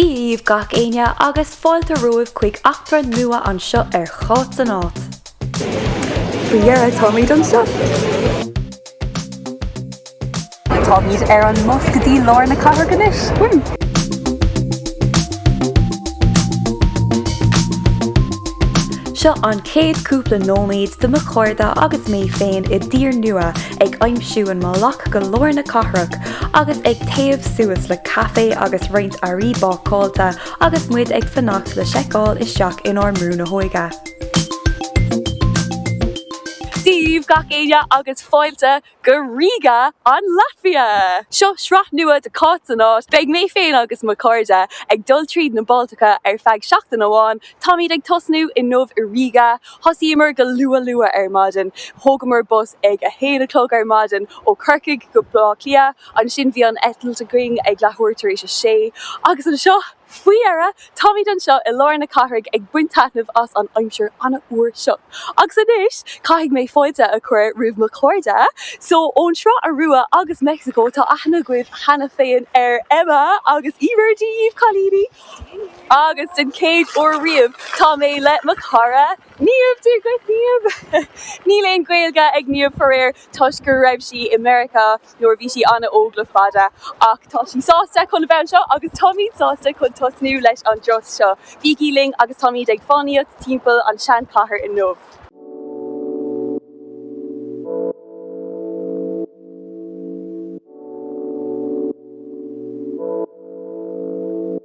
Dia dhaoibh gach éinne agus fáilte romhaibh chuig eachtra nua anseo ar Cháit san Áit. Faoi dheireadh táimid anseo! Táimid ar an mbus go dtí lár na cathrach anois. Seo an chéad chúpla nóiméad de mo chairde agus mé féin i dtír nua ag aimsiú an mbealach go lár na cathrach agus ag téamh suas le caife agus roinnt earraí bácáilte agus muid ag fanacht le seiceáil isteach inár mbrú na hóige. daoibh gach éinne agus fáilte go Riga, an Laitvia! Seo sraith nua de Cáit san Áit, beidh mé féin agus mo chairde ag dul tríd na Baltacha ar feadh seachtain amháin. Táimid ag tosnú inniu i Riga. Thosaíomar go luath luath ar maidin. Thógamar bus ag a haon a chlog ar maidin ó Chorcaigh go Baile Átha Cliath, ansin bhí an eitilt againn ag leathuair tar éis a sé, agus anseo, Faoi dheireadh, táimid anseo i lár na cathrach ag baint taitnimh as an aimsir an-fhuar seo. Agus anois, caithfidh mé fáilte a chur roimh mo chairde. So, ón sraith Iorua agus Meicsiceo, tá aithne agaibh cheana féin ar Emma agus Emer. Dia dhaoibh cailíní. Agus den chéad uair riamh, tá mé le mo chara, Niamh. Dia dhuit Niamh. Níl aon Ghaeilge ag Niamh faraor, toisc go raibh sí i Meiriceá. nuair a bhí sí an-óg le fada ach tá sí sásta chun a bheith anseo agus táimid sásta chun tosnú leis an dturas seo. Bígí linn agus táimid ag fánaíocht timpeall an tseanchathair inniu.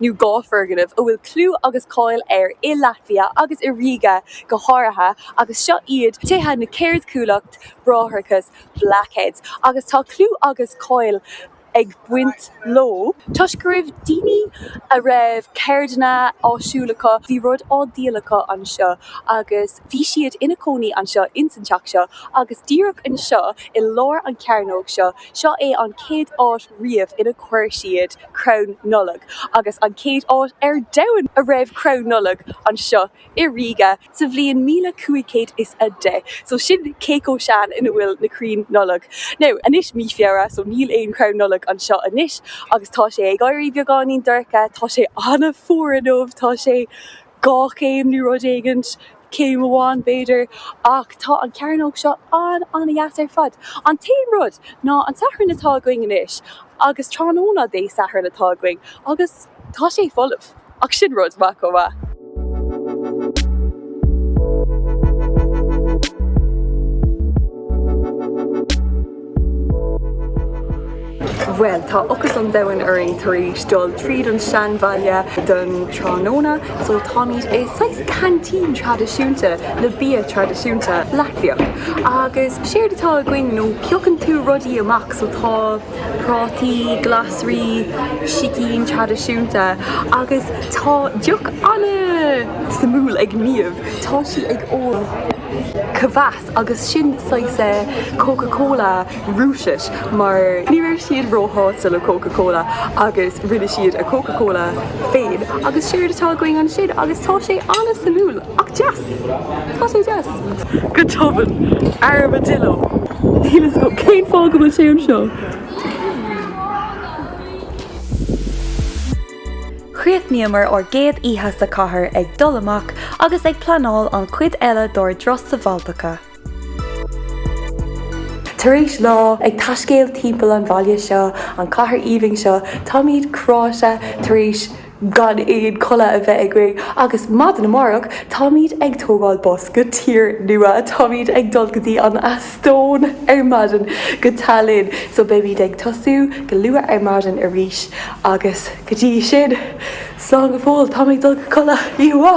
Now dhá foirgneamh a bhfuil clú agus cáil air i Laitvia agus i Ríge go háirithe agus seo iad tithe na Ceardchuallacht Bráithreachas Blackheads agus tá clú agus cáil ag baint leo toisc go raibh daoine a raibh ceirdeanna áisiúla acu bhí rudaí á dhíol acu anseo agus bhí siad ina cónaí anseo ins an teach seo agus díreach anseo i lár an chearnóg seo, seo é an chéad áit. riamh inar chuir siad crann Nollag agus an chéad áit ar domhan a raibh crann Nollag anseo i Riga sa bhliain míle cúig chéad is a deich so sin cé chomh sean ina bhfuil na crainn Nollag. Now anois mí Feabhra so níl aon crann Nollag anseo anois agus tá sé ag éirí beagáinín dorcha, tá sé an-fhuar inniu, tá sé. dhá chéim nó rud éigint, céim amháin b'fhéidir, ach tá an chearnóg seo an-an-dheas ar fad. An t-aon rud ná an Satharn atá againn anois, agus tráthnóna Dé Sathairn atá againn, agus tá sé folamh, ach sin rud maith chomh maith. Bhuel, tá ocras an domhain orainn tar éis dul tríd an seanbhaile don tráthnóna, so táimid i saghas canteen traidisiúnta le bia traidisiúnta Latviach. Agus séard atá againn ná piocann tú rudaí amach, so tá prátaí, glasraí, sicín traidisiúnta agus tá deoch an-suimiúil ag Niamh, tá sí ag ól kvass. Agus sin saghas Coca Cola Rúiseach, mar ní raibh siad róshásta le Coca Cola agus rinne siad a Coca Cola féin agus sin é atá againn ansin agus tá sé an-suimiúil ach deas. Tá sé deas. Go tobann. Armadillo. Níl fhios agam cén fáth go bhfuil sé anseo. Chríochnaíomar ár gcéad oíche sa chathair ag dul amach agus ag pleanáil an chuid eile dár dturas sna Baltacha. Tar éis lá ag taiscéal timpeall an bhaile seo, an chathair aoibhinn seo, táimid traochta tar éis gan aon codladh a bheith againn agus maidin amárach táimid ag tógáil bus go tír nua, táimid ag dul go dtí an. Eastóin ar maidin go Tallinn so beimid ag tosú go luath ar maidin arís agus go dtí sin, slán go fóill, táim ag dul go codladh, yí hua!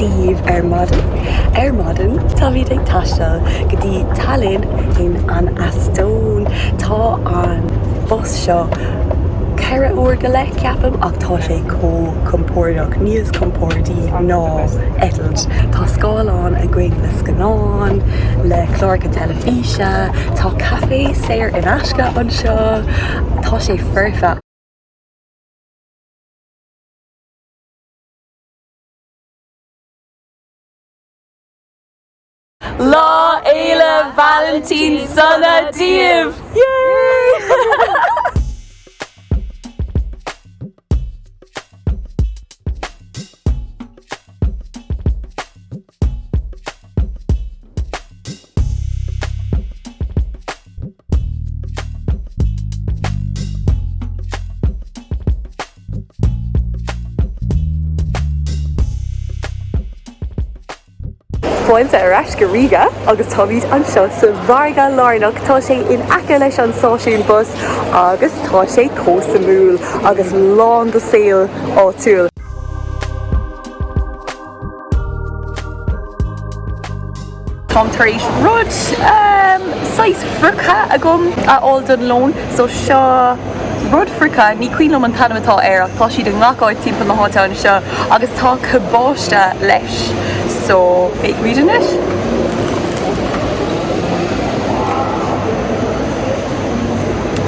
daoibh ar maidin. Ar maidin táimid ag taisteal go dtí Tallinn in an Eastóin. Tá an bus seo ceithre uair go leith, ceapaim, ach tá sé chomh compordach, níos compordí ná eitilt. Tá scáileán againn le scannáin, le cláracha teilifíse. Oíche, Tá caife saor in aisce anseo. Tá sé foirfe! Lá Fhéile Vailintín sona daoibh! Fáilte ar ais go Ríga agus táimid anseo sa mhargadh lárnach. Tá sé in aice leis an stáisiún bus agus tá sé chomh suimiúil agus lán de saol áitiúil. Táim tar éis rud saghas friochta a fháil don lón, so seo rud friochta, ní cuimhin liom an t-ainm atá air ach tá siad i ngach áit timpeall na háite anseo agus tá cabáiste leis, so féach air anois.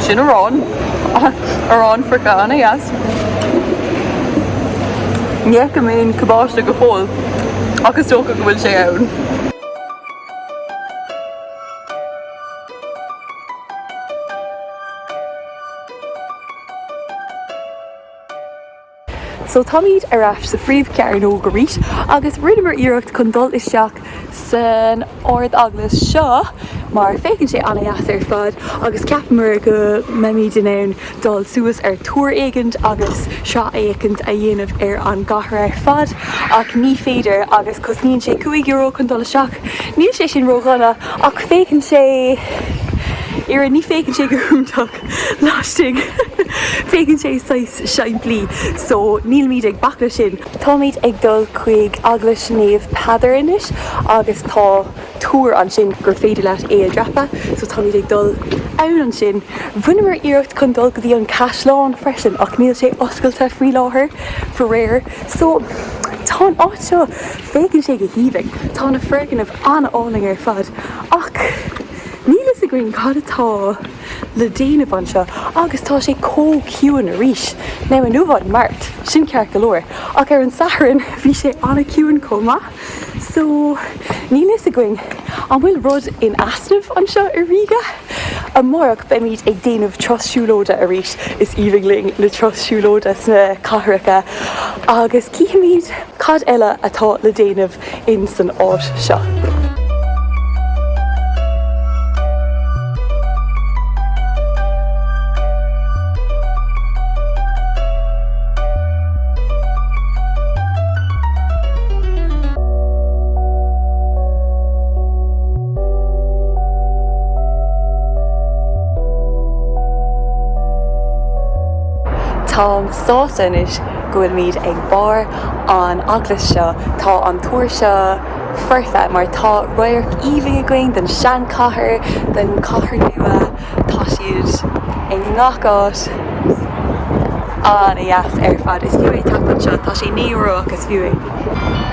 Sin arán, arán friochta, ana-dheas. Ní fheicim aon chabáiste go fóill, ach is dócha go bhfuil sé ann. So, táimid ar ais sa phríomh-chearnóg arís, agus rinneamar iarracht chun dul isteach san Ard-Eaglais seo mar féachann sé ana-dheas ar fad agus cheapamar go mbeimis in ann dul suas ar túr éigin agus sracfhéachaint a dhéanamh ar an gcathair ar fad ach ní féidir agus cosnaíonn sé cúig euro chun dul isteach. Níl sé sin ró-dhona ach féachann sé, oiread, ní féachann sé go hiontach laistigh, féachann sé saghas simplí so nílimid ag bac leis sin. Táimid ag dul chuig Eaglais Naomh Peadar anois agus tá túr ansin gur féidir leat é a dhreapadh so táimid ag dul ann ansin. Rinneamar iarracht chun dul go dtí an caisleán freisin ach níl sé oscailte faoi láthair faraor so tá an áit seo, féachann sé go haoibhinn, tá na foirgnimh an-álainn ar fad ach níl a fhios againn cad atá. le déanamh anseo agus tá sé chomh ciúin arís. Now inniu an Mháirt, sin ceart go leor, ach ar an Satharn bhí sé ana-chiúin chomh maith. So níl a fhios againn an bhfuil rud in easnamh anseo i Ríga. Amárach beimid ag déanamh turas siúlóide arís, is aoibhinn linn na turais siúlóide sna cathracha, agus chífimid cad eile atá le déanamh insan áit seo. Táim sásta anois go bhfuilimid ag barr an eaglais seo, tá an túr seo foirfe mar tá radharc aoibhinn againn den seanchathair, den chathair nua, tá siad i ngach áit, an-deas ar fad. Is fiú é teacht anseo, tá sé naoi euro ach is fiú é.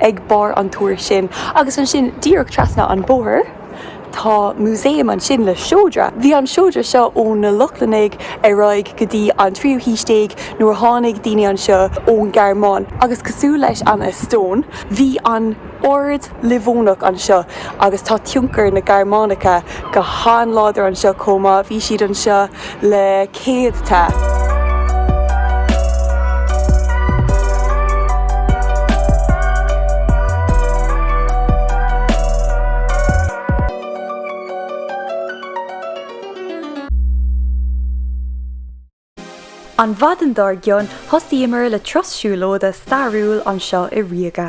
Ag barr an túir sin, agus ansin díreach trasna an bóthar, tá músaem ansin le seodra. Bhí an seodra seo ó na Lochlannaigh ar aghaidh go dtí an tríú haois déag nuair a tháinig daoine anseo ón Ghearmáin agus cosúil leis an Eastóin, bhí an Ord Livónach anseo agus tá tionchar na Gearmáinice go han-láidir anseo chomh maith. Bhí siad anseo le. céadta. An mhaidin dár gcionn, thosaíomar le turas siúlóide stairiúil anseo i Ríoga.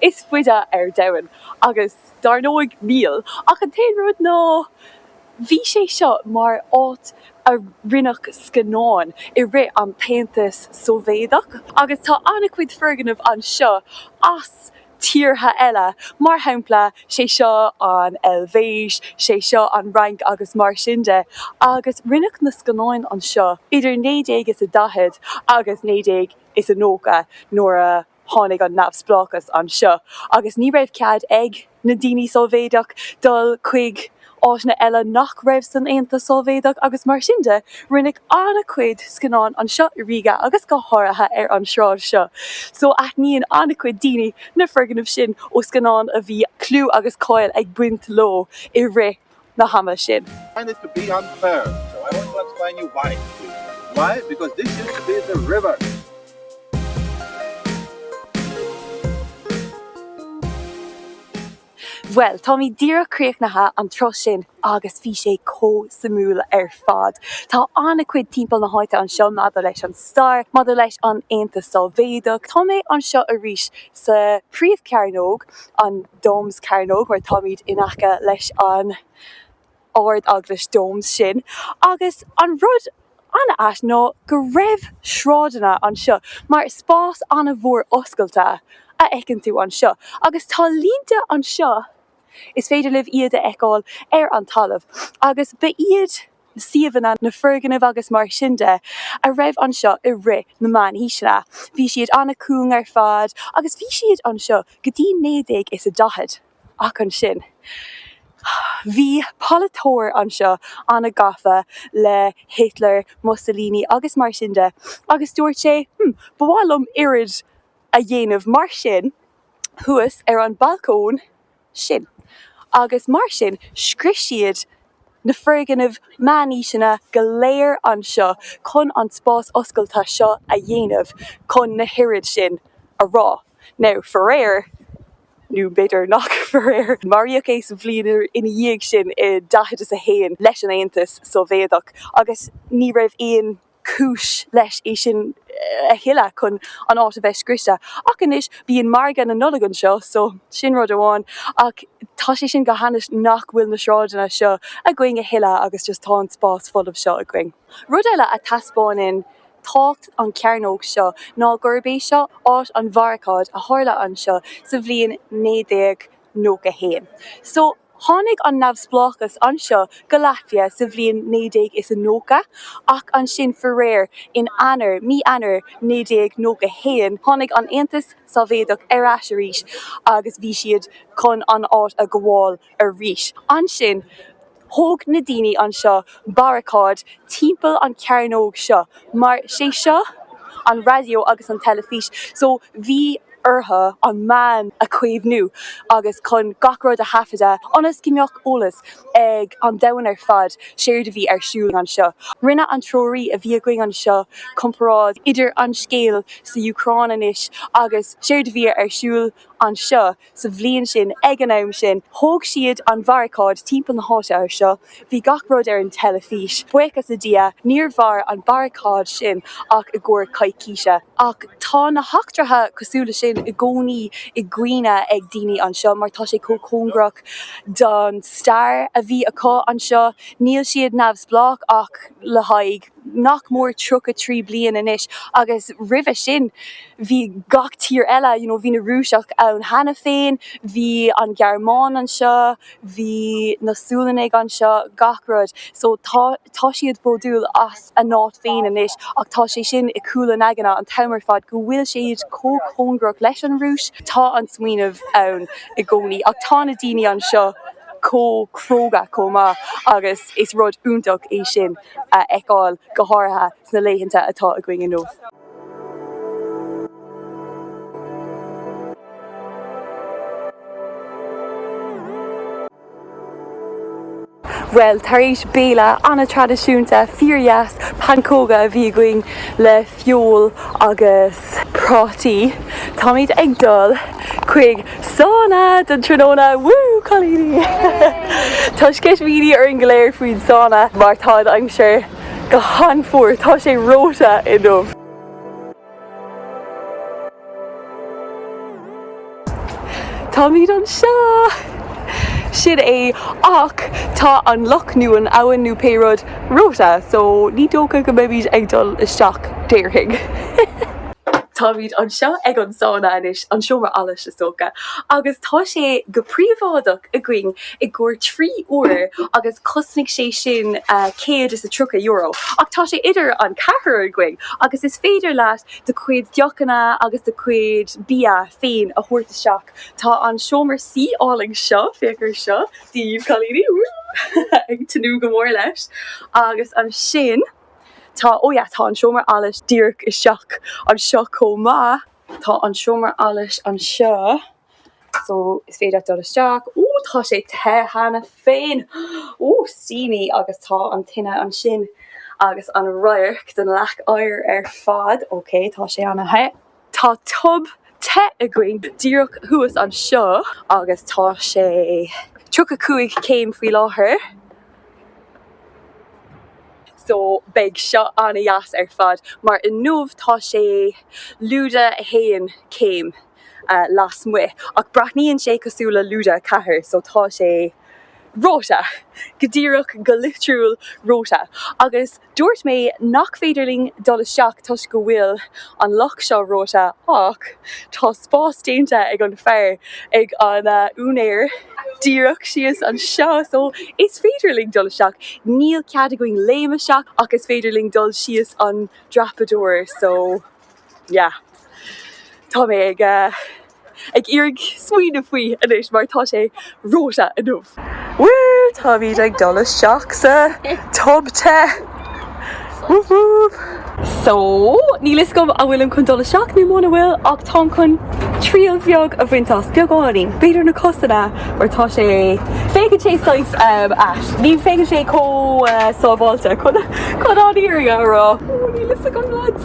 is faide ar domhan agus dár ndóigh níl ach an t-aonú rud ná bhí sé seo mar áit a rinneadh scannáin i rith an t-Aontas Sóivéadach agus tá an-chuid foirgneamh anseo as tíortha eile mar shampla is é seo an Eilvéis, is é seo an Fhrainc agus mar sin de agus rinneadh na scannáin anseo idir naoi déag is a daichead agus naoi déag is a nócha nuair a. Tháinig an neamhspleáchas anseo agus ní raibh cead ag na daoine Sóivéadach dul chuig áiteanna eile nach raibh san Aontas Sóivéadach agus mar sin de, rinneadh an-chuid scannáin anseo i Riga agus go háirithe ar an sráid seo. So aithníonn an-chuid daoine na foirgnimh sin ó scannáin a bhí clú agus cáil ag baint leo i rith. na hama sin. find this to be unfair, so I want to explain you why. Why? Because this used to be the river. Bhuel, táimid díreach críochnaithe an turas sin agus bhí sé chomh suimiúil ar fad. Tá an-chuid timpeall na háite anseo maidir leis an stair, maidir leis an Aontas Sóivéadach. Tá mé anseo arís sa phríomhchearnóg, an. Doms Cearnóg mar táimid in aice leis an Ardeaglais Doms sin agus an rud an-ait ná go raibh sráideanna anseo mar is spás an-mhór oscailte a fheiceann tú anseo agus tá línte anseo is féidir libh iad a fheiceáil ar an talamh agus ba iad na suíomhanna, na foirgnimh agus mar sin de a raibh anseo i rith na Meánaoiseanna. Bhí siad an-cúng ar fad agus bhí siad anseo go dtí naoi déag is a daichead. Ach ansin, bhí polaiteoir anseo an-gafa le Hitler, Mussolini agus mar sin de agus dúirt sé, 'Hm, ba mhaith liom óráid a dhéanamh mar sin thuas ar an bhalcóin, sin, agus mar sin, scrios siad na foirgnimh meánaoiseanna go léir anseo chun an spás oscailte seo a dhéanamh chun na hóráid sin a rá. Now, faraor, nó b'fhéidir nach faraor, maraíodh é sa bhliain ina dhiaidh sin i daichead is a haon leis an Aontas Sóivéadach agus ní raibh aon. cúis leis é sin a thuilleadh chun an áit a bheith scriosta. Ach anois, bíonn margadh na Nollag anseo, so sin rud amháin. Ach tá sé sin go hainnis nach bhfuil na sráideanna seo againn a thuilleadh agus just tá an spás folamh seo againn. Rud eile a thaispeánann tábhacht an chearnóg seo ná gurb é seo áit an bharacáid a tharla anseo sa bhliain 1991. So. Tháinig an neamhspleáchas anseo go Laitvia sa bhliain naoi déag is a nócha, ach ansin faraor in Eanáir, mí Eanáir naoi déag nócha haon, tháinig an Aontas Sóivéadach ar ais arís agus bhí siad chun an áit a ghabháil arís. Ansin thóg na daoine anseo baracáid timpeall an chearnóg seo. mar sé seo an raidió agus an teilifís so bhí orthu an meán a chaomhnú agus chun gach rud a thaifeadadh ionas go mbeadh eolas ag an domhan ar fad séard a bhí ar siúl anseo. Rinne an treoraí a bhí againn anseo comparáid idir an scéal sa Úcráin anois agus séard a bhí ar siúl anseo. sa bhliain sin. Ag an am sin, thóg siad an bharacáid timpeall na háite seo. Bhí gach rud ar an teilifís. Buíochas le Dia, níor mhair an baracáid sin ach i gcomhair coicíse. Ach tá na heachtraithe cosúil le sin i gcónaí i gcuimhne ag daoine anseo mar tá sé chomh cóngarach don stair a bhí acu anseo. Níl siad neamhspleách ach le haghaidh. nach mór tríocha trí bliain anois agus roimhe sin bhí gach tír eile you know bhí na Rúiseach ann cheana féin, bhí an Ghearmáin anseo, bhí na Sualannaigh anseo, gach rud so tá siad bródúil as a n-áit féin anois ach tá sé sin i gcúl a n-aigne an t-am ar fad go bhfuil siad chomh cóngarach leis an Rúis, tá an smaoineamh ann i gcónaí ach tá na daoine anseo chomh cróga chomh maith agus is rud iontach é sin. a fheiceáil, go háirithe sna laethanta atá againn inniu. Bhuel, tar éis béile an-traidisiúnta, fíor-dheas, pancóga a bhí againn le feoil agus. Prátaí, Táimid ag dul chuig sána don tráthnóna, woo cailíní! Tá sceitimíní orainn go léir faoin sána mar tá an aimsir go han-fuar, tá sé reoite inniu! Táimid anseo! Sin é, ach tá an loch nó an abhainn nó pé rud reoite, so ní dócha go mbeimid ag dul isteach, déarfainn. Táimid anseo ag an sána anois, an seomra allais is dócha, agus tá sé go príobháideach againn i gcomhair trí uair agus chosnaigh sé sin céad is a tríocha euro, ach tá sé idir an ceathrar againn agus is féidir leat do chuid deochanna agus do chuid bia féin a thabhairt isteach. Tá an seomra suí álainn seo, féach ar seo, daoibh cailíní, woo! ag tnúth go mór leis. Agus ansin tá, oh yeah, tá an seomra allais díreach isteach anseo chomh maith. Tá an seomra allais anseo. So, is féidir leat dul isteach. Ó, tá sé te cheana féin! Ó, steamy! Agus tá an tine ansin agus an radharc den leac oighir ar fad. Ok, tá sé an-the. Tá tub te againn díreach thuas anseo agus tá sé tríocha cúig céim faoi láthair. So, beidh seo an-deas ar fad, mar inniu tá sé lúide a haon céim. lasmuigh, ach breathnaíonn sé cosúil le lúide a 4 so tá sé reoite, go díreach, go litriúil reoite. Agus dúirt mé nach féidir linn dul isteach toisc go bhfuil an loch seo reoite ach tá spás déanta ag an fear, ag an úinéir, díreach síos anseo so is féidir linn dul isteach. Níl cead againn léim isteach ach is féidir linn dul síos an dreapadóir so. yeah tá mé ag ag iarraidh smaoineamh faoi anois mar tá sé reoite inniu. Woo táimid ag dul isteach sa tub te whoop whoop. So níl fhios agam an bhfuilim chun dul isteach nó muna bhfuil ach táim chun triail bheag a bhaint as, beagáinín. B'fhéidir na cosanna mar tá sé, féachann sé saghas ehm ait, ní féachann sé chomh sábháilte chun chun an fhírinne a rá. Woo níl fhios agam lads.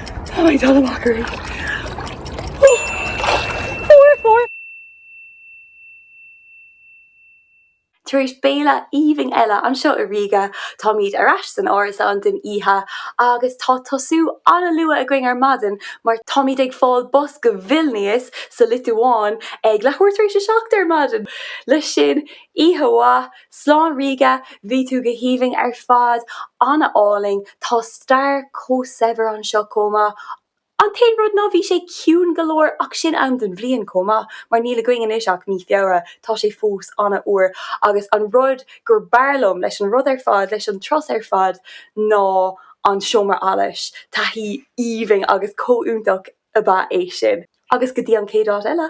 Tá mé dul amach arís. Fuair, fuair! Tar éis béile aoibhinn eile anseo i Riga, táimid ar ais san árasán don oíche agus tá tosú an-luath againn ar maidin mar táimid ag fáil bus go Vilnias sa Liotuáin ag leathuair tar éis a seacht ar maidin! Leis sin, oíche mhaith, Slán Riga, bhí tú go haoibhinn ar fad, an-álainn, tá stair chomh saibhir anseo chomh maith. An t-aon rud ná bhí sé ciúin go leor ach sin am den bhliain chomh maith mar níl againn anois ach mí Feabhra, tá sé fós an-fhuar agus an rud gur b'fhearr liom leis an rud ar fad, leis an turas ar fad ná an seomra allais, taithí aoibhinn agus chomh iontach ab ea é sin. Agus go dtí an chéad áit eile.